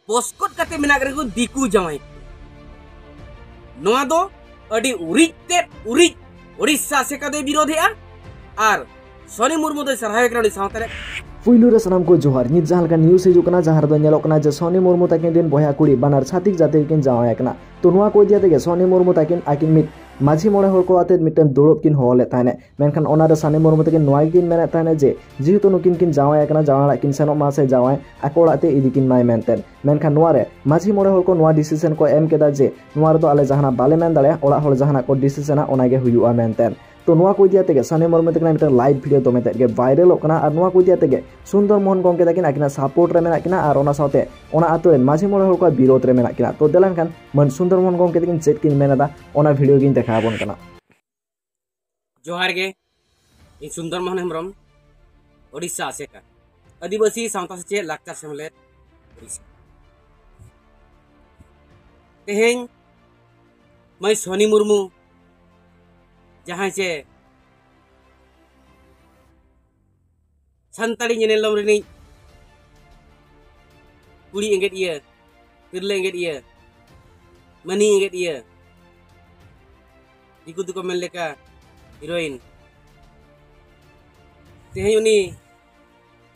ᱵᱚᱥᱠᱚᱴ ᱠᱟᱛᱮ ᱢᱮᱱᱟᱜ ᱨᱮᱠᱚ ᱫᱤᱠᱩ ᱡᱟᱶᱟᱭ ᱱᱚᱣᱟ ᱫᱚ ᱟᱹᱰᱤ ᱩᱨᱤᱡ ᱛᱮᱫ ᱩᱨᱤᱡ ᱳᱰᱤᱥᱟ ᱟᱥᱮᱠᱟ ᱫᱚᱭ ᱵᱤᱨᱳᱫᱷᱮᱜᱼᱟ ᱟᱨ ᱥᱚᱱᱤ ᱢᱩᱨᱢᱩ ᱫᱚᱭ ᱥᱟᱨᱦᱟᱣᱮ ᱠᱟᱱᱟ ᱩᱱᱤ ᱥᱟᱶᱛᱟ ᱨᱮ ᱯᱩᱭᱞᱩ ᱨᱮ ᱥᱟᱱᱟᱢ ᱠᱚ ᱡᱚᱦᱟᱨ ᱱᱤᱛ ᱡᱟᱦᱟᱸ ᱞᱮᱠᱟ ᱱᱤᱭᱩᱡ ᱦᱤᱡᱩᱜ ᱠᱟᱱᱟ ᱡᱟᱦᱟᱸ ᱨᱮᱫᱚ ᱧᱮᱞᱚᱜ ᱠᱟᱱᱟ ᱡᱮ ᱥᱚᱱᱤ ᱢᱩᱨᱢᱩ ᱛᱟᱹᱠᱤᱱ ᱨᱮᱱ ᱵᱚᱭᱦᱟ ᱠᱩᱲᱤ ᱵᱟᱱᱟᱨ ᱪᱷᱟᱛᱤᱠ ᱡᱟᱹᱛᱤ ᱨᱮᱠᱤᱱ ᱡᱟᱶᱟᱭ ᱟᱠᱟᱱᱟ ᱛᱚ ᱱᱚᱣᱟ ᱠᱚ ᱤᱫᱤ ᱠᱟᱛᱮ ᱥᱚᱱᱤ ᱢᱩᱨᱢᱩ ᱛᱟᱹᱠᱤᱱ ᱟᱹᱠᱤᱱ ᱢᱤᱫ ᱢᱟᱹᱡᱷᱤ ᱢᱚᱬᱮ ᱦᱚᱲ ᱠᱚ ᱟᱛᱮ ᱢᱤᱫᱴᱟᱝ ᱫᱩᱲᱩᱵ ᱠᱤᱱ ᱦᱚᱦᱚ ᱞᱮᱫ ᱛᱟᱦᱮᱸᱫ ᱢᱮᱱᱠᱷᱟᱱ ᱚᱱᱟ ᱨᱮ ᱥᱟᱱᱤ ᱢᱩᱨᱢᱩ ᱛᱟᱹᱠᱤᱱ ᱱᱚᱣᱟ ᱜᱮᱠᱤᱱ ᱢᱮᱱᱮᱫ ᱛᱟᱦᱮᱱᱟ ᱡᱮ ᱡᱮᱦᱮᱛᱩ ᱱᱩᱠᱤᱱ ᱠᱤᱱ ᱡᱟᱶᱟᱭ ᱟᱠᱟᱱᱟ ᱡᱟᱶᱟᱭ ᱚᱲᱟᱜ ᱠᱤᱱ ᱥᱮᱱᱚᱜ ᱢᱟ ᱥᱮ ᱡᱟᱶᱟᱭ ᱟᱠᱚ ᱚᱲᱟᱜ ᱛᱮ ᱤᱫᱤ ᱠᱤᱱ ᱢᱟᱭ ᱢᱮᱱᱛᱮ ᱢᱮᱱᱠᱷᱟᱱ ᱱᱚᱣᱟ ᱨᱮ ᱢᱟᱹᱡᱷᱤ ᱢᱚᱬᱮ ᱦᱚᱲ ᱠᱚ ᱱᱚᱣᱟ ᱰᱤᱥᱤᱥᱚᱱ ᱠᱚ ᱮᱢ ᱠᱮᱫᱟ ᱡᱮ ᱱᱚᱣᱟ ᱨᱮᱫᱚ ᱟᱞᱮ ᱡᱟᱦᱟᱱᱟᱜ ᱵᱟᱞᱮ ᱢᱮᱱ ᱫᱟᱲᱮᱭᱟᱜᱼᱟ ᱚᱲᱟᱜ ᱦᱚᱲ ᱡᱟᱦᱟᱱᱟᱜ ᱠᱚ ᱰᱤᱥᱤᱥᱚᱱᱟ ᱚᱱᱟ ᱜᱮ ᱦᱩᱭᱩᱜᱼᱟ ᱢᱮᱱᱛᱮ ᱛᱚ ᱱᱚᱣᱟ ᱠᱚ ᱤᱫᱤᱭᱟᱛᱮ ᱜᱮ ᱥᱟᱱᱤ ᱢᱩᱨᱢᱩ ᱛᱟᱹᱠᱤᱱᱟᱜ ᱢᱤᱫᱴᱟᱝ ᱞᱟᱭᱤᱵ ᱵᱷᱤᱰᱤᱭᱳ ᱫᱚᱢᱮ ᱛᱮᱫ ᱜᱮ ᱵᱷᱟᱭᱨᱟᱞᱚᱜ ᱠᱟᱱᱟ ᱟᱨ ᱱᱚᱣᱟ ᱠᱚ ᱤᱫᱤᱭᱟᱛᱮ ᱜᱮ ᱥᱩᱱᱫᱚᱨ ᱢᱳᱦᱚᱱ ᱜᱚᱢᱠᱮ ᱛᱟᱹᱠᱤᱱ ᱟᱹᱠᱤᱱᱟᱜ ᱥᱟᱯᱳᱨᱴ ᱨᱮ ᱢᱮᱱᱟᱜ ᱠᱤᱱᱟ ᱟᱨ ᱚᱱᱟ ᱥᱟᱶᱛᱮ ᱚᱱᱟ ᱟᱛᱳ ᱨᱮᱱ ᱢᱟᱹᱡᱷᱤ ᱢᱚᱬᱮ ᱦᱚᱲ ᱠᱚᱣᱟᱜ ᱵᱤᱨᱳᱫᱷ ᱨᱮ ᱢᱮᱱᱟᱜ ᱠᱤᱱᱟ ᱛᱚ ᱫᱮᱞᱟᱱ ᱠᱷᱟᱱ ᱢᱟᱹᱱ ᱥᱩᱱᱫᱚᱨ ᱢᱳᱦᱚᱱ ᱜᱚᱢᱠᱮ ᱛᱟᱹᱠᱤᱱ ᱪᱮᱫ ᱠᱤᱱ ᱢᱮᱱ ᱮᱫᱟ ᱚᱱᱟ ᱵᱷᱤᱰᱤᱭᱳ ᱜᱤᱧ ᱫᱮᱠᱷᱟᱣ ᱟᱵᱚᱱ ᱠᱟᱱᱟ ᱡᱚᱦᱟᱨ ᱜᱮ ᱤᱧ ᱥᱩᱱᱫᱚᱨ ᱢᱳᱦᱚᱱ ᱦᱮᱢᱵᱨᱚᱢ ᱳᱰᱤᱥᱟ ᱟᱥᱮᱠᱟ ᱟᱹᱫᱤᱵᱟᱹᱥᱤ ᱥᱟᱶᱛᱟ ᱥᱮᱪᱮᱫ ᱞᱟᱠᱪᱟᱨ ᱥᱮᱢᱞᱮᱫ ᱳᱰᱤᱥᱟ ᱛᱮᱦᱮᱧ ᱢᱟᱹᱭ ᱥᱚᱱᱤ ᱢᱩᱨᱢᱩ ᱡᱟᱦᱟᱸᱭ ᱪᱮ ᱥᱟᱱᱛᱟᱲᱤ ᱧᱮᱱᱮᱞᱚᱢ ᱨᱤᱱᱤᱡ ᱠᱩᱲᱤ ᱮᱸᱜᱮᱫ ᱤᱭᱟᱹ ᱛᱤᱨᱞᱟᱹ ᱮᱸᱜᱮᱫ ᱤᱭᱟᱹ ᱢᱟᱹᱱᱤ ᱮᱸᱜᱮᱫ ᱤᱭᱟᱹ ᱫᱤᱠᱩ ᱫᱚᱠᱚ ᱢᱮᱱ ᱞᱮᱠᱟ ᱦᱤᱨᱳᱭᱤᱱ ᱛᱮᱦᱮᱧ ᱩᱱᱤ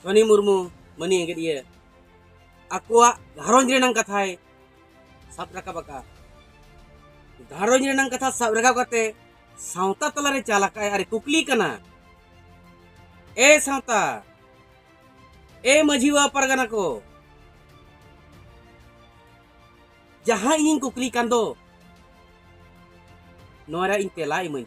ᱥᱚᱱᱤ ᱢᱩᱨᱢᱩ ᱢᱟᱹᱱᱤ ᱮᱸᱜᱮᱫ ᱤᱭᱟᱹ ᱟᱠᱚᱣᱟᱜ ᱜᱷᱟᱨᱚᱸᱡᱽ ᱨᱮᱱᱟᱝ ᱠᱟᱛᱷᱟᱭ ᱥᱟᱵ ᱨᱟᱠᱟᱵ ᱟᱠᱟᱫᱼᱟ ᱜᱷᱟᱨᱚᱸᱡᱽ ᱨᱮᱱᱟᱝ ᱠᱟᱛᱷᱟ ᱥᱟᱵ ᱨᱟᱠᱟᱵ ᱠᱟᱛᱮ ᱥᱟᱶᱛᱟ ᱛᱟᱞᱟᱨᱮ ᱪᱟᱞ ᱟᱠᱟᱫ ᱟᱨ ᱠᱩᱠᱞᱤ ᱠᱟᱱᱟ ᱮ ᱥᱟᱶᱛᱟ ᱮ ᱢᱟᱹᱡᱷᱤ ᱵᱟᱵᱟ ᱯᱟᱨᱜᱟᱱᱟ ᱠᱚ ᱡᱟᱦᱟᱸ ᱤᱧᱤᱧ ᱠᱩᱠᱞᱤ ᱠᱟᱱ ᱫᱚ ᱱᱚᱣᱟ ᱨᱮ ᱤᱧ ᱛᱮᱞᱟ ᱤᱢᱟᱹᱧ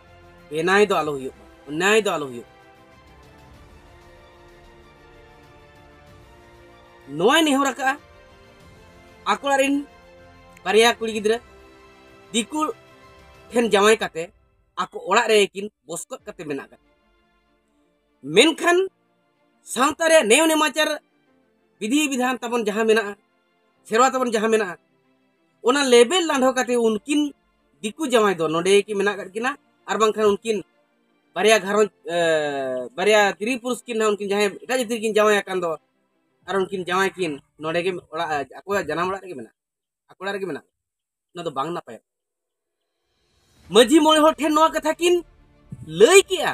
ᱵᱮᱱᱟᱭ ᱫᱚ ᱟᱞᱚ ᱦᱩᱭᱩᱜ ᱢᱟ ᱚᱱᱭᱟᱭ ᱫᱚ ᱟᱞᱚ ᱦᱩᱭᱩᱜ ᱱᱚᱣᱟᱭ ᱱᱮᱦᱚᱨ ᱟᱠᱟᱜᱼᱟ ᱟᱠᱚ ᱚᱲᱟᱜ ᱨᱤᱱ ᱵᱟᱨᱭᱟ ᱠᱩᱲᱤ ᱜᱤᱫᱽᱨᱟᱹ ᱫᱤᱠᱩ ᱴᱷᱮᱱ ᱡᱟᱶᱟᱭ ᱠᱟᱛᱮ ᱟᱠᱚ ᱚᱲᱟᱜ ᱨᱮ ᱠᱤᱱ ᱵᱚᱥᱠᱚᱫ ᱠᱟᱛᱮ ᱢᱮᱱᱟᱜ ᱠᱟᱜ ᱢᱮᱱᱠᱷᱟᱱ ᱥᱟᱶᱛᱟ ᱨᱮ ᱱᱮᱣ ᱱᱮᱢᱟᱪᱟᱨ ᱵᱤᱫᱷᱤ ᱵᱤᱫᱷᱟᱱ ᱛᱟᱵᱚᱱ ᱡᱟᱦᱟᱸ ᱢᱮᱱᱟᱜᱼᱟ ᱥᱮᱨᱣᱟ ᱛᱟᱵᱚᱱ ᱡᱟᱦᱟᱸ ᱢᱮᱱᱟᱜᱼᱟ ᱚᱱᱟ ᱞᱮᱵᱮᱞ ᱞᱟᱸᱰᱷᱚ ᱠᱟᱛᱮ ᱩᱱᱠᱤᱱ ᱫᱤᱠᱩ ᱡᱟᱶᱟᱭ ᱫᱚ ᱱᱚᱰᱮ ᱠᱤ ᱢᱮᱱᱟᱜ ᱟᱠᱟᱫ ᱠᱤᱱᱟ ᱟᱨ ᱵᱟᱝᱠᱷᱟᱱ ᱩᱱᱠᱤᱱ ᱵᱟᱨᱭᱟ ᱜᱷᱟᱨᱚᱸᱡᱽ ᱵᱟᱨᱭᱟ ᱛᱤᱨᱤ ᱯᱩᱨᱩᱥ ᱠᱤᱱ ᱦᱟᱸᱜ ᱩᱱᱠᱤᱱ ᱡᱟᱦᱟᱸᱭ ᱮᱴᱟᱜ ᱡᱟᱹᱛᱤ ᱠᱤᱱ ᱡᱟᱶᱟᱭ ᱟᱠᱟᱱ ᱫᱚ ᱟᱨ ᱩᱱᱠᱤᱱ ᱡᱟᱶᱟᱭ ᱠᱤᱱ ᱱᱚᱰᱮ ᱜᱮ ᱚᱲᱟᱜ ᱟᱠᱚᱣᱟᱜ ᱡᱟᱱᱟᱢ ᱚᱲᱟᱜ ᱨᱮᱜᱮ ᱢᱮᱱᱟᱜ ᱟᱠᱚ ᱚᱲᱟᱜ ᱨᱮᱜᱮ ᱢᱮᱱᱟᱜ ᱚᱱᱟ ᱫᱚ ᱵᱟᱝ ᱱᱟᱯᱟᱭᱚᱜ ᱢᱟᱹᱡᱷᱤ ᱢᱚᱬᱮ ᱦᱚᱲ ᱴᱷᱮᱱ ᱱᱚᱣᱟ ᱠᱟᱛᱷᱟ ᱠᱤᱱ ᱞᱟᱹᱭ ᱠᱮᱜᱼᱟ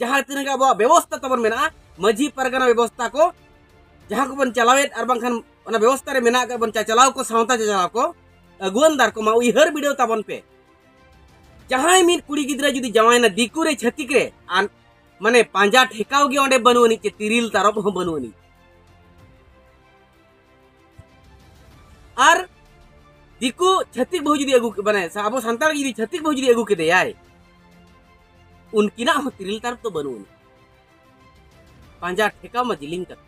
ᱡᱟᱦᱟᱸ ᱛᱤᱱᱟᱹᱜ ᱜᱮ ᱟᱵᱚᱣᱟᱜ ᱵᱮᱵᱚᱥᱛᱟ ᱛᱟᱵᱚᱱ ᱢᱮᱱᱟᱜᱼᱟ ᱢᱟᱹᱡᱷᱤ ᱯᱟᱨᱜᱟᱱᱟ ᱵᱮᱵᱚᱥᱛᱟ ᱠᱚ ᱡᱟᱦᱟᱸ ᱠᱚᱵᱚᱱ ᱪᱟᱞᱟᱣᱮᱫ ᱟᱨ ᱵᱟᱝᱠᱷᱟᱱ ᱚᱱᱟ ᱵᱮᱵᱚᱥᱛᱟ ᱨᱮ ᱢᱮᱱᱟᱜ ᱟᱠᱟᱫ ᱵᱚᱱ ᱪᱟᱪᱟᱞᱟᱣ ᱠᱚ ᱥᱟᱶᱛᱟ ᱪᱟᱪᱟᱞᱟᱣ ᱠᱚ ᱟᱹᱜᱩᱣᱟᱹᱱᱫᱟᱨ ᱠᱚᱢᱟ ᱩᱭᱦᱟᱹᱨ ᱵᱤᱰᱟᱹᱣ ᱛᱟᱵᱚᱱ ᱯᱮ ᱡᱟᱦᱟᱸᱭ ᱢᱤᱫ ᱠᱩᱲᱤ ᱜᱤᱫᱽᱨᱟᱹ ᱡᱩᱫᱤ ᱡᱟᱶᱟᱭᱱᱟ ᱫᱤᱠᱩ ᱨᱮ ᱪᱷᱟᱹᱛᱤᱠ ᱨᱮ ᱟᱨ ᱢᱟᱱᱮ ᱯᱟᱸᱡᱟ ᱴᱷᱮᱠᱟᱣ ᱜᱮ ᱚᱸᱰᱮ ᱵᱟᱹᱱᱩᱜ ᱟᱹᱱᱤᱡ ᱪᱮ ᱛᱤᱨᱤᱞ ᱛᱟᱨᱚᱵ ᱦᱚᱸ ᱵᱟᱹᱱᱩᱜ ᱟᱹᱱᱤᱡ ᱟᱨ ᱫᱤᱠᱩ ᱪᱷᱟᱹᱛᱤᱠ ᱵᱟᱹᱦᱩ ᱡᱩᱫᱤ ᱟᱹᱜᱩ ᱢᱟᱱᱮ ᱟᱵᱚ ᱥᱟᱱᱛᱟᱲ ᱡᱩᱫᱤ ᱪᱷᱟᱹᱛᱤᱠ ᱵᱟᱹᱦᱩ ᱡᱩᱫᱤ ᱟᱹᱜᱩ ᱠᱮᱫᱮᱭᱟᱭ ᱩᱱᱠᱤᱱᱟᱜ ᱦᱚᱸ ᱛᱤᱨᱤᱞ ᱛᱟᱨᱚᱵ ᱫᱚ ᱵᱟᱹᱱᱩᱜ ᱟᱹᱱᱤᱡ ᱯᱟᱸᱡᱟ ᱴᱷᱮᱠᱟᱣ ᱢᱟ ᱡᱤᱞᱤᱧ ᱠᱟᱛᱷᱟ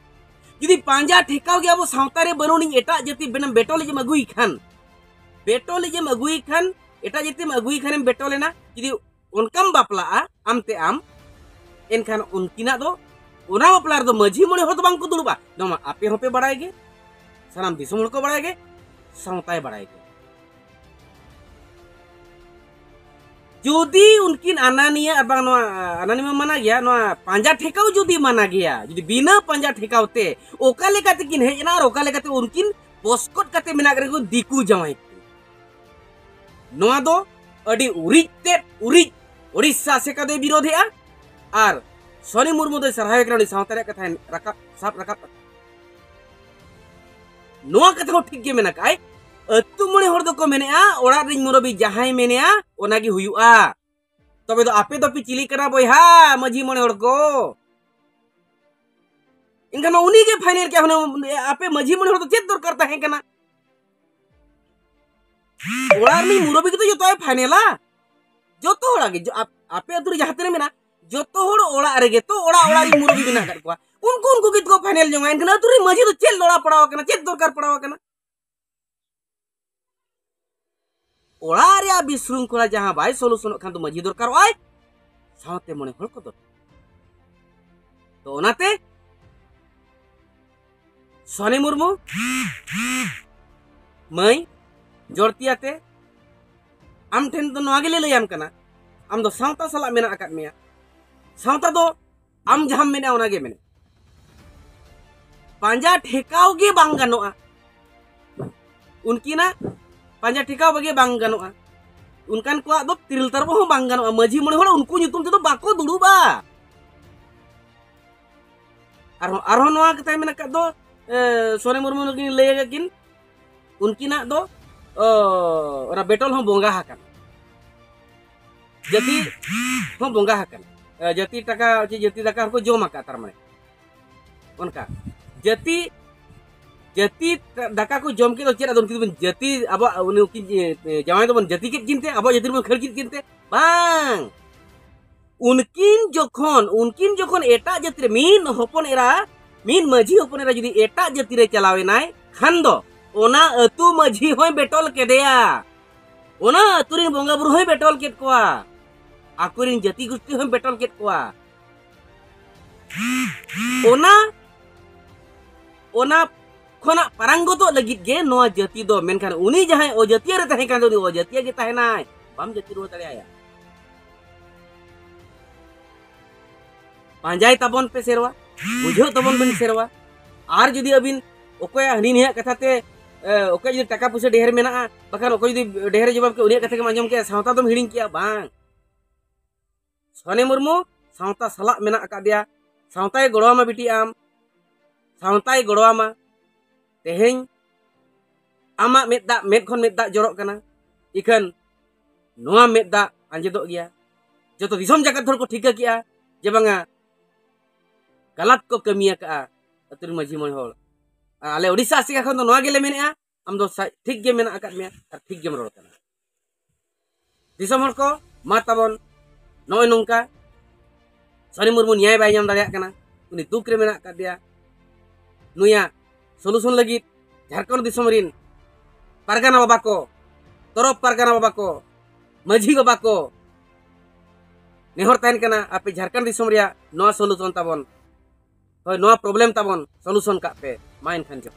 ᱡᱩᱫᱤ ᱯᱟᱸᱡᱟ ᱴᱷᱮᱠᱟᱣ ᱜᱮ ᱟᱵᱚ ᱥᱟᱶᱛᱟ ᱨᱮ ᱵᱟᱹᱱᱩᱜ ᱟᱹᱱᱤᱡ ᱮᱴᱟᱜ ᱡᱟᱹᱛᱤ ᱵᱮᱱᱟᱢ ᱵᱮᱴᱚᱞᱤᱡᱮᱢ ᱟᱹᱜᱩᱭ ᱠᱷᱟᱱ ᱵᱮᱴᱚᱞᱤᱡᱮᱢ ᱟᱹᱜᱩᱭ ᱠᱷᱟᱱ ᱮᱴᱟᱜ ᱡᱟᱹᱛᱤᱢ ᱟᱹᱜᱩᱭ ᱠᱷᱟᱱᱮᱢ ᱵᱮᱴᱚᱞᱮᱱᱟ ᱡᱩᱫᱤ ᱚᱱᱠᱟᱢ ᱵᱟᱯᱞᱟᱜᱼᱟ ᱟᱢ ᱛᱮ ᱟᱢ ᱮᱱᱠᱷᱟᱱ ᱩᱱᱠᱤᱱᱟᱜ ᱫᱚ ᱚᱱᱟ ᱵᱟᱯᱞᱟ ᱨᱮᱫᱚ ᱢᱟᱹᱡᱷᱤ ᱢᱚᱬᱮ ᱦᱚᱲ ᱫᱚ ᱵᱟᱝ ᱠᱚ ᱫᱩᱲᱩᱵᱟ ᱱᱚᱣᱟ ᱟᱯᱮ ᱦᱚᱸᱯᱮ ᱵᱟᱲᱟᱭ ᱜᱮ ᱥᱟᱱᱟᱢ ᱫᱤᱥᱚᱢ ᱦᱚᱲ ᱠᱚ ᱵᱟᱲᱟᱭ ᱜᱮ ᱥᱟᱶᱛᱟᱭ ᱵᱟᱲᱟᱭ ᱜᱮ ᱡᱩᱫᱤ ᱩᱱᱠᱤᱱ ᱟᱱᱟᱱᱤᱭᱟ ᱟᱨ ᱵᱟᱝ ᱱᱚᱣᱟ ᱟᱱᱟᱱᱤᱢᱟ ᱢᱟᱱᱟ ᱜᱮᱭᱟ ᱱᱚᱣᱟ ᱯᱟᱸᱡᱟ ᱴᱷᱮᱠᱟᱣ ᱡᱩᱫᱤ ᱢᱟᱱᱟ ᱜᱮᱭᱟ ᱡᱩᱫᱤ ᱵᱤᱱᱟᱹ ᱯᱟᱸᱡᱟ ᱴᱷᱮᱠᱟᱣ ᱛᱮ ᱚᱠᱟ ᱞᱮᱠᱟ ᱛᱮᱠᱤᱱ ᱦᱮᱡ ᱮᱱᱟ ᱟᱨ ᱚᱠᱟ ᱞᱮᱠᱟᱛᱮ ᱩᱱᱠᱤᱱ ᱯᱚᱥᱠᱚᱴ ᱠᱟᱛᱮ ᱢᱮᱱᱟᱜ ᱨᱮᱠᱚ ᱫᱤᱠᱩ ᱡᱟᱶᱟᱭ ᱱᱚᱣᱟ ᱫᱚ ᱟᱹᱰᱤ ᱩᱨᱤᱡ ᱛᱮᱫ ᱩᱨᱤᱡ ᱳᱰᱤᱥᱟ ᱟᱥᱮᱠᱟ ᱫᱚᱭ ᱵᱤᱨᱳᱫᱷᱮᱜᱼᱟ ᱟᱨ ᱥᱚᱱᱤ ᱢᱩᱨᱢᱩ ᱫᱚᱭ ᱥᱟᱨᱦᱟᱣᱮ ᱠᱟᱱᱟ ᱩᱱᱤ ᱥᱟᱶᱛᱟ ᱨᱮᱭᱟᱜ ᱠᱟᱛᱷᱟᱭ ᱨᱟᱠᱟᱵ ᱥᱟᱵ ᱨᱟᱠᱟᱵ ᱠᱟᱛᱷᱟ ᱱᱚᱣᱟ ᱠᱟᱛᱷᱟ ᱦᱚᱸ ᱴᱷᱤᱠ ᱜᱮ ᱢᱮᱱᱟᱜ ᱟᱭ ᱟᱹᱛᱩ ᱢᱚᱬᱮ ᱦᱚᱲ ᱫᱚᱠᱚ ᱢᱮᱱᱮᱜᱼᱟ ᱚᱲᱟᱜ ᱨᱤᱧ ᱢᱩᱨᱟᱹᱵᱤ ᱡᱟᱦᱟᱸᱭ ᱢᱮᱱᱮᱜᱼᱟ ᱚᱱᱟᱜᱮ ᱦᱩᱭᱩᱜᱼᱟ ᱛᱚᱵᱮ ᱫᱚ ᱟᱯᱮ ᱫᱚᱯᱮ ᱪᱤᱞᱤ ᱠᱟᱱᱟ ᱵᱚᱭᱦᱟ ᱢᱟᱹᱡᱷᱤ ᱢᱚᱬᱮ ᱦᱚᱲ ᱠᱚ ᱮᱱᱠᱷᱟᱱ ᱩᱱᱤ ᱜᱮ ᱯᱷᱟᱭᱱᱮᱞ ᱠᱮᱫ ᱦᱩᱱᱟᱹᱝ ᱟᱯᱮ ᱢᱟᱹᱡᱷᱤ ᱢᱚᱬᱮ ᱦᱚᱲ ᱫᱚ ᱪᱮᱫ ᱫᱚᱨᱠᱟᱨ ᱛᱟᱦᱮᱸ ᱠᱟᱱᱟ ᱚᱲᱟᱜ ᱨᱤᱱᱤᱡ ᱢᱩᱨᱚᱵᱤ ᱜᱮᱛᱚ ᱡᱚᱛᱚᱭ ᱯᱷᱟᱭᱱᱮᱞᱟ ᱡᱚᱛᱚ ᱦᱚᱲᱟᱜ ᱜᱮ ᱟᱯᱮ ᱟᱹᱛᱩ ᱨᱮ ᱡᱟᱦᱟᱸ ᱛᱤᱱᱟᱹᱜ ᱢᱮᱱᱟᱜ ᱡᱚᱛᱚ ᱦᱚᱲ ᱚᱲᱟᱜ ᱨᱮᱜᱮ ᱛᱚ ᱚᱲᱟᱜ ᱚᱲᱟᱜ ᱨᱤᱱ ᱢᱩᱨᱚᱵᱤ ᱢᱮᱱᱟᱜ ᱟᱠᱟᱫ ᱠᱚᱣᱟ ᱩᱱᱠᱩ ᱩᱱᱠᱩ ᱜᱮ ᱛᱚ ᱯᱷᱟᱭᱱᱮᱞ ᱡᱚᱝᱟ ᱮᱱᱠᱷᱟᱱ ᱟᱹᱛᱩ ᱨᱤᱱ ᱢᱟᱹᱡᱷᱤ ᱫᱚ ᱪᱮᱫ ᱞᱚᱲᱟ ᱯᱟᱲᱟᱣ ᱟᱠᱟᱱᱟ ᱪᱮᱫ ᱫᱚᱨᱠᱟᱨ ᱯᱟᱲᱟᱣ ᱟᱠᱟᱱᱟ ᱚᱲᱟᱜ ᱨᱮᱭᱟᱜ ᱵᱤᱥᱨᱩᱝᱠᱷᱚᱞᱟ ᱡᱟᱦᱟᱸ ᱵᱟᱭ ᱥᱚᱞᱩᱥᱚᱱᱚᱜ ᱠᱷᱟᱱ ᱫᱚ ᱢᱟᱹᱡᱷᱤ ᱫᱚᱨᱠᱟᱨᱚᱜᱼᱟᱭ ᱥᱟᱶᱛᱮ ᱢᱚᱬᱮ ᱦᱚᱲ ᱠᱚ ᱫᱚᱨᱠᱟᱨ ᱛᱚ ᱚᱱᱟᱛᱮ ᱥᱚᱱᱤ ᱢᱩᱨᱢᱩ ᱢᱟᱹᱭ ᱡᱚᱲᱛᱤᱭᱟᱛᱮ ᱟᱢ ᱴᱷᱮᱱ ᱫᱚ ᱱᱚᱣᱟ ᱜᱮᱞᱮ ᱞᱟᱹᱭᱟᱢ ᱠᱟᱱᱟ ᱟᱢ ᱫᱚ ᱥᱟᱶᱛᱟ ᱥᱟᱞᱟᱜ ᱢᱮᱱᱟᱜ ᱟᱠᱟᱫ ᱢᱮᱭᱟ ᱥᱟᱶᱛᱟ ᱫᱚ ᱟᱢ ᱡᱟᱦᱟᱸᱢ ᱢᱮᱱᱟ ᱚᱱᱟ ᱜᱮ ᱢᱮᱱᱟ ᱯᱟᱸᱡᱟ ᱴᱷᱮᱠᱟᱣ ᱜᱮ ᱵᱟᱝ ᱜᱟᱱᱚᱜᱼᱟ ᱩᱱᱠᱤᱱᱟᱜ ᱯᱟᱸᱡᱟ ᱴᱷᱮᱠᱟᱣ ᱵᱟᱜᱮ ᱵᱟᱝ ᱜᱟᱱᱚᱜᱼᱟ ᱩᱱᱠᱟᱱ ᱠᱚᱣᱟᱜ ᱫᱚ ᱛᱤᱨᱤᱞ ᱛᱟᱨᱚᱵ ᱦᱚᱸ ᱵᱟᱝ ᱜᱟᱱᱚᱜᱼᱟ ᱢᱟᱹᱡᱷᱤ ᱢᱚᱬᱮ ᱦᱚᱲ ᱩᱱᱠᱩ ᱧᱩᱛᱩᱢ ᱛᱮᱫᱚ ᱵᱟᱠᱚ ᱫᱩᱲᱩᱵᱟ ᱟᱨᱦᱚᱸ ᱟᱨᱦᱚᱸ ᱱᱚᱣᱟ ᱠᱟᱛᱷᱟᱭ ᱢᱮᱱ ᱟᱠᱟᱫ ᱫᱚ ᱥᱚᱨᱮ ᱢᱩᱨᱢᱩ ᱱᱩᱠᱤᱱ ᱞᱟᱹᱭ ᱟᱠᱟᱫ ᱠᱤᱱ ᱩᱱᱠᱤᱱᱟᱜ ᱫᱚ ᱚᱱᱟ ᱵᱮᱴᱚᱞ ᱦᱚᱸ ᱵᱚᱸᱜᱟ ᱟᱠᱟᱱᱟ ᱡᱟᱹᱛᱤ ᱦᱚᱸ ᱵᱚᱸᱜᱟ ᱟᱠᱟᱱᱟ ᱡᱟᱹᱛᱤ ᱴᱟᱠᱟ ᱪᱮ ᱡᱟᱹᱛᱤ ᱫᱟᱠᱟ ᱦᱚᱸᱠᱚ ᱡᱚᱢ ᱟᱠᱟᱫ ᱛᱟᱨ ᱢᱟᱱᱮ ᱚᱱᱠᱟ ᱡᱟᱹᱛᱤ ᱡᱟᱹᱛᱤ ᱫᱟᱠᱟ ᱠᱚ ᱡᱚᱢ ᱠᱮᱫ ᱫᱚ ᱪᱮᱫ ᱟᱫᱚ ᱩᱱᱠᱤᱱ ᱫᱚᱵᱚᱱ ᱡᱟᱹᱛᱤ ᱟᱵᱚᱣᱟᱜ ᱩᱱᱤ ᱩᱱᱠᱤᱱ ᱡᱟᱶᱟᱭ ᱫᱚᱵᱚᱱ ᱡᱟᱹᱛᱤ ᱠᱮᱫ ᱠᱤᱱ ᱛᱮ ᱟᱵᱚᱣᱟᱜ ᱡᱟᱹᱛᱤ ᱨᱮᱵᱚᱱ ᱠᱷᱟᱹᱲ ᱠᱮᱫ ᱠᱤᱱ ᱛᱮ ᱵᱟᱝ ᱩᱱᱠᱤᱱ ᱡᱚᱠᱷᱚᱱ ᱩᱱᱠᱤᱱ ᱡᱚᱠᱷᱚᱱ ᱮᱴᱟᱜ ᱡᱟᱹᱛᱤ ᱨᱮ ᱢᱤᱫ ᱦᱚᱯᱚᱱ ᱮᱨᱟ ᱢᱤᱫ ᱢᱟᱹᱡᱷᱤ ᱦᱚᱯᱚᱱ ᱮᱨᱟ ᱡᱩᱫᱤ ᱮᱴᱟᱜ ᱡᱟᱹᱛᱤ ᱨᱮ ᱪᱟᱞᱟᱣ ᱮᱱᱟᱭ ᱠᱷᱟᱱ ᱫᱚ ᱚᱱᱟ ᱟᱹᱛᱩ ᱢᱟᱹᱡᱷᱤ ᱦᱚᱸᱭ ᱵᱮᱴᱚᱞ ᱠᱮᱫᱮᱭᱟ ᱚᱱᱟ ᱟᱹᱛᱩ ᱨᱮᱱ ᱵᱚᱸᱜᱟ ᱵᱩᱨᱩ ᱦᱚᱸᱭ ᱵᱮᱴᱚᱞ ᱠᱮᱫ ᱠᱚᱣᱟ ᱟᱠᱚᱨᱮᱱ ᱡᱟᱹᱛᱤ ᱜᱩᱥᱴᱤ ᱦᱚᱸᱭ ᱵᱮᱴᱚᱞ ᱠᱮᱫ ᱠᱚᱣᱟ ᱚᱱᱟ ᱚᱱᱟ ᱠᱷᱚᱱᱟᱜ ᱯᱟᱨᱟᱝᱜᱚᱛᱚᱜ ᱞᱟᱹᱜᱤᱫ ᱜᱮ ᱱᱚᱣᱟ ᱡᱟᱹᱛᱤ ᱫᱚ ᱢᱮᱱᱠᱷᱟᱱ ᱩᱱᱤ ᱡᱟᱦᱟᱸᱭ ᱚᱡᱟᱹᱛᱤᱭᱟᱹ ᱨᱮ ᱛᱟᱦᱮᱸ ᱠᱟᱱ ᱫᱚ ᱩᱱᱤ ᱚᱡᱟᱹᱛᱤᱭᱟᱹ ᱜᱮ ᱛᱟᱦᱮᱱᱟᱭ ᱵᱟᱢ ᱡᱟᱹᱛᱤ ᱨᱩᱣᱟᱹᱲ ᱫᱟᱲᱮᱭᱟᱭᱟ ᱯᱟᱸᱡᱟᱭ ᱛᱟᱵᱚᱱ ᱯᱮ ᱥᱮᱨᱣᱟ ᱵᱩᱡᱷᱟᱹᱣ ᱛᱟᱵᱚᱱ ᱵᱮᱱ ᱥᱮᱨᱣᱟ ᱟᱨ ᱡᱩᱫᱤ ᱟᱹᱵᱤᱱ ᱚᱠᱚᱭ ᱦᱟᱹᱱᱤ ᱱᱤᱭᱟᱹ ᱠᱟᱛᱷᱟ ᱛᱮ ᱚᱠᱚᱭ ᱡᱩᱫᱤ ᱴᱟᱠᱟ ᱯᱩᱭᱥᱟᱹ ᱰᱷᱮᱨ ᱢᱮᱱᱟᱜᱼᱟ ᱵᱟᱠᱷᱟᱱ ᱚᱠᱚᱭ ᱡᱩᱫᱤ ᱰᱷᱮᱨ ᱡᱚᱵᱟᱵ ᱠᱮ ᱩᱱᱤᱭᱟᱜ ᱠᱟᱛᱷᱟ ᱜᱮᱢ ᱟᱸᱡᱚᱢ ᱠᱮᱜᱼᱟ ᱥᱟᱶᱛᱟ ᱫᱚᱢ ᱦᱤᱲᱤᱧ ᱠᱮᱜᱼᱟ ᱵᱟᱝ ᱥᱚᱱᱮ ᱢᱩᱨᱢᱩ ᱥᱟᱶᱛᱟ ᱥᱟᱞᱟᱜ ᱢᱮᱱᱟᱜ ᱟᱠᱟᱫᱮᱭᱟ ᱥᱟᱶᱛᱟᱭ ᱜᱚᱲᱚᱣᱟᱢᱟ ᱵᱤᱴᱤ ᱟᱢ ᱥᱟᱶᱛᱟᱭ ᱜᱚᱲᱚᱣᱟᱢᱟ ᱛᱮᱦᱮᱧ ᱟᱢᱟᱜ ᱢᱮᱫ ᱫᱟᱜ ᱢᱮᱫ ᱠᱷᱚᱱ ᱢᱮᱫ ᱫᱟᱜ ᱡᱚᱨᱚᱜ ᱠᱟᱱᱟ ᱤᱠᱷᱟᱹᱱ ᱱᱚᱣᱟ ᱢᱮᱫ ᱫᱟᱜ ᱟᱸᱡᱮᱫᱚᱜ ᱜᱮᱭᱟ ᱡᱚᱛᱚ ᱫᱤᱥᱚᱢ ᱡᱟᱠᱟᱛ ᱦᱚᱲ ᱠᱚ ᱴᱷᱤᱠᱟᱹ ᱠᱮᱜᱼᱟ ᱡᱮ ᱵᱟᱝᱟ ᱜᱟᱞᱟᱛ ᱠᱚ ᱠᱟᱹᱢᱤ ᱟᱠᱟᱜᱼᱟ ᱟᱹᱛᱩ ᱨᱮᱱ ᱢᱟᱹᱡᱷᱤ ᱢᱚᱬᱮ ᱦᱚᱲ ᱟᱨ ᱟᱞᱮ ᱳᱰᱤᱥᱟ ᱟᱥᱮᱠᱟ ᱠᱷᱚᱱ ᱫᱚ ᱱᱚᱣᱟ ᱜᱮᱞᱮ ᱢᱮᱱᱮᱜᱼᱟ ᱟᱢ ᱫᱚ ᱴᱷᱤᱠ ᱜᱮ ᱢᱮᱱᱟᱜ ᱟᱠᱟᱫ ᱢᱮᱭᱟ ᱟᱨ ᱴᱷᱤᱠ ᱜᱮᱢ ᱨᱚᱲ ᱠᱟᱱᱟ ᱫᱤᱥᱚᱢ ᱦᱚᱲ ᱠᱚ ᱢᱟ ᱛᱟᱵᱚᱱ ᱱᱚᱜᱼᱚᱭ ᱱᱚᱝᱠᱟ ᱥᱚᱨᱮ ᱢᱩᱨᱢᱩ ᱱᱮᱭᱟᱭ ᱵᱟᱭ ᱧᱟᱢ ᱫᱟᱲᱮᱭᱟᱜ ᱠᱟᱱᱟ ᱩᱱᱤ ᱫᱩᱠ ᱨᱮ ᱢᱮᱱᱟᱜ ᱟᱠᱟᱫᱮᱭᱟ ᱱᱩᱭᱟᱜ ᱥᱚᱞᱩᱥᱚᱱ ᱞᱟᱹᱜᱤᱫ ᱡᱷᱟᱲᱠᱷᱚᱸᱰ ᱫᱤᱥᱚᱢ ᱨᱤᱱ ᱯᱟᱨᱜᱟᱱᱟ ᱵᱟᱵᱟ ᱠᱚ ᱛᱚᱨᱚᱯ ᱯᱟᱨᱜᱟᱱᱟ ᱵᱟᱵᱟ ᱠᱚ ᱢᱟᱹᱡᱷᱤ ᱵᱟᱵᱟ ᱠᱚ ᱱᱮᱦᱚᱨ ᱛᱟᱦᱮᱱ ᱠᱟᱱᱟ ᱟᱯᱮ ᱡᱷᱟᱲᱠᱷᱚᱸᱰ ᱫᱤᱥᱚᱢ ᱨᱮᱭᱟᱜ ᱱᱚᱣᱟ ᱥᱚᱞᱩᱥᱚᱱ ᱛᱟᱵᱚᱱ ᱦᱳᱭ ᱱᱚᱣᱟ ᱯᱨᱚᱵᱞᱮᱢ ᱛᱟᱵᱚᱱ ᱥᱚᱞᱩᱥᱚᱱ ᱠᱟᱜ ᱯᱮ ᱢᱟ ᱮᱱᱠᱷᱟᱱ ᱡᱚᱦᱟᱨ